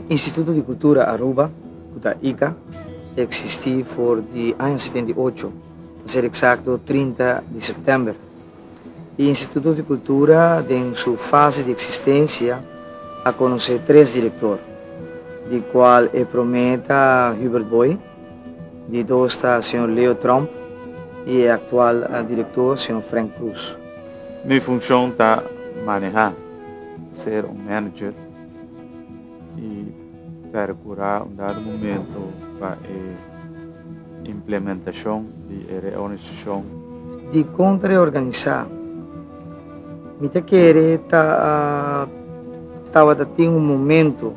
Instituto di Cultura Aruba, cu ta ica, a existi for di aña setenta i ocho, pa ser exacto trinta di september. E Instituto di Cultura den su fase di existencia a conoce tres director, di cual e prome ta Hubert Booi, Di dos ta señor Leo Tromp y e actual director señor Frank Cruz. Mi funcion ta maneha, ser un manager y percura un dado momento pa e implementacion di e reorganisacion. Dicon ta reorganisa? Mi ta kere ta tabata tin un momento.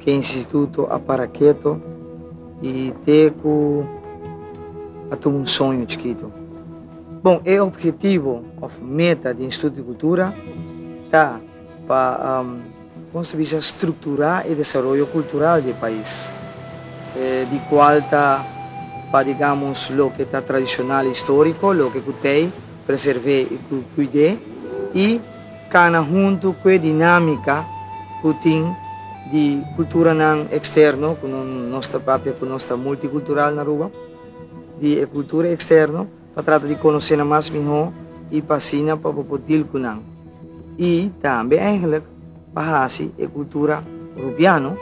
Ke instituto a para keto i te ku a tuma un soño chikitu. Bon, e ophetivo òf meta di Instituto di Kultura ta pa nos ta bisa strukturá e desaroyo kultural di e pais, di kual ta pa digamos loke ta tradishonal i istóriko, loke ku t'ei preservé i ku kuid'é i. Cana huntu cu e dinamica cu tin di culturanan externo, cu nos ta papia cu nos ta multicultural na Aruba, di e cultura externo pa trata di conocenan mas miho y pa asina pa bo por deal cu nan. Y tambe eigenlijk pa haci e cultura Rubiano,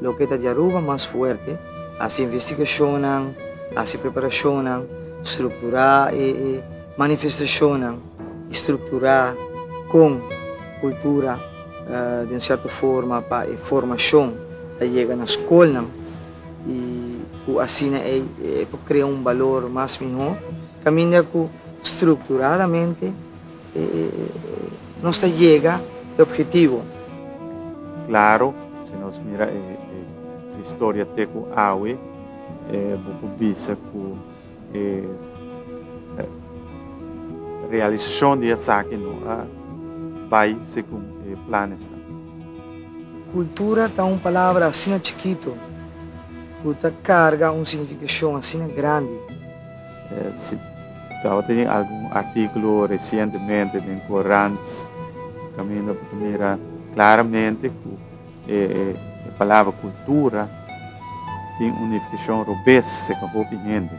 loke ta di Aruba, mas fuerte, haci investigacionnan, haci preparacionnan, structura e manifestacionnan. Strukturá kon kultura di un sèrto forma pa e formashon ta yega na skolnan i ku asina e por krea un balor mas mihó kaminda ku strukturadamente nos ta yega e ophetivo. Klaro, si nos mira e historia te ku awe, bo por bisa ku. E realisashon di esaki no a bai segun e planesnan. Kultura ta un palabra asina chikitu ku ta karga un signifikashon asina grandi. Si tabata tin algun artíkulo resientemente den korant kaminda bo ta mira klaramente ku. E palabra cultura tin un nificacion robes seca hopi hende.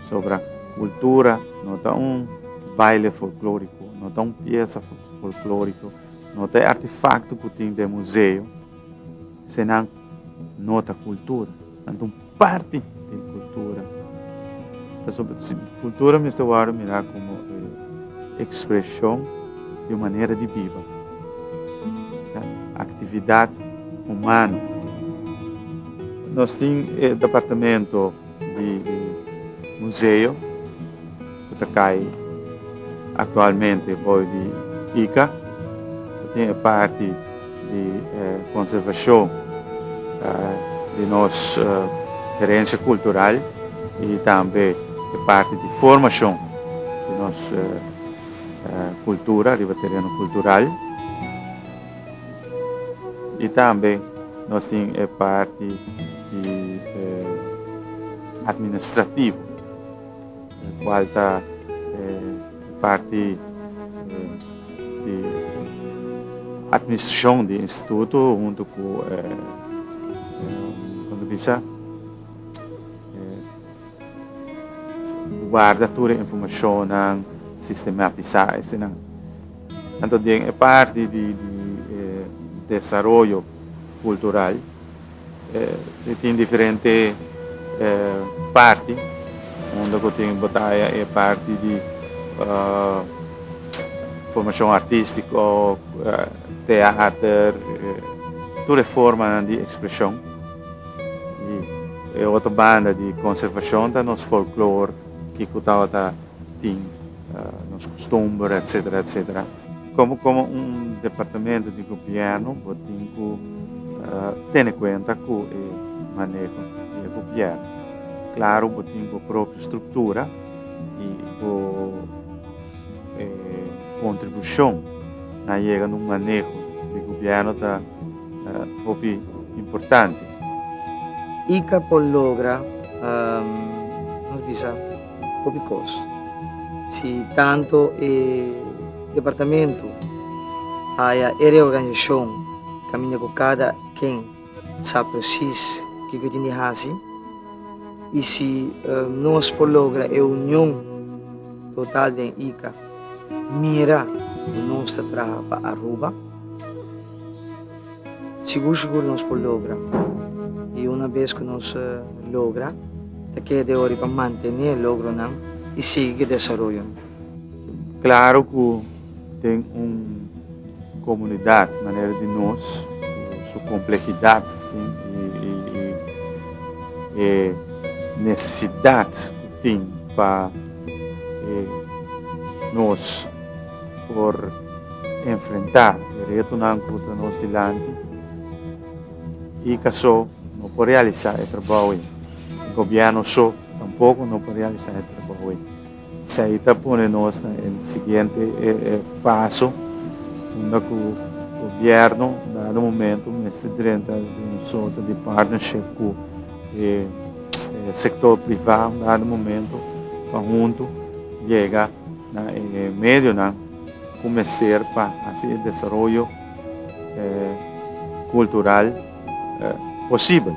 Pasobra cultura no ta un baile folclorico, no ta un piesa folclorico, no ta e artefacto cu tin den museo, senan no ta cultura. parti di e kultura. Pasobra si kultura mester wòrdu mirá komo e ekspreshon di un manera di biba, ta aktividat humano. Nos tin e departamento di museo. ku ta kai aktualmente bou di Ica, ta tin e parti di e konservashon di nos herensia kultural i tambe e parti di formashon di nos kultura riba tereno kultural. I tambe nos tin e parti di administrativo. Cual ta e parti di administracion di instituto hunto cu e como bisa e guarda tur e informacionnan, sistematisa esnan. Anto den e parti di di e desaroyo cultural. E tin diferente parti unda ku tin bataya e parti di formashon artistiko teater tur e formanan di ekspreshon i e otro banda di konservashon ta nos folklor kiko tabata tin nos kustumber etsetera etsetera. Komo komo un departamento di gobièrnu bo tin ku tene kuenta ku e maneho di e gobièrnu. Klaru bo tin bo propio struktura i bo kontribushon na yega na un maneho di gobièrnu ta hopi importante. I ka por logra, nos bisa. Hopi kos. Si tantu e departamentu haya e reorganisashon kaminda ku kada ken sa presis kiko e tin di hasi i si nos por logra e union total den Ica mira ku nos ta traha pa Aruba. Sigur sigur nos por logra i una bes ku nos logra ta keda e hori pa mantené e logronan i sigui ku e desaroyonan. Klaru ku den un komunidat manera di nos ku su komplehidat tin i e nesesidat ku tin pa nos. por enfrentá e retonan ku ta nos dilanti i ka so no por realisá e trabou ei. E gobièrnu so tampoko no por realisá e trabou ei. Esei ta pone nos na e siguiente paso unda ku gobièrnu un dado momentu mester drenta den un sorto di partnership ku e sektor privá un dado momentu pa huntu yega na e medionan ku mester pa hasi e desaroyo kultural posibel.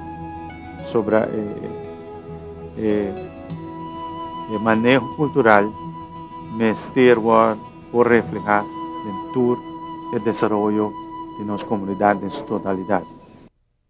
Sobra e maneho kultural mester wòrdu por reflehá den tur e desaroyo di nos komunidat den su totalidat.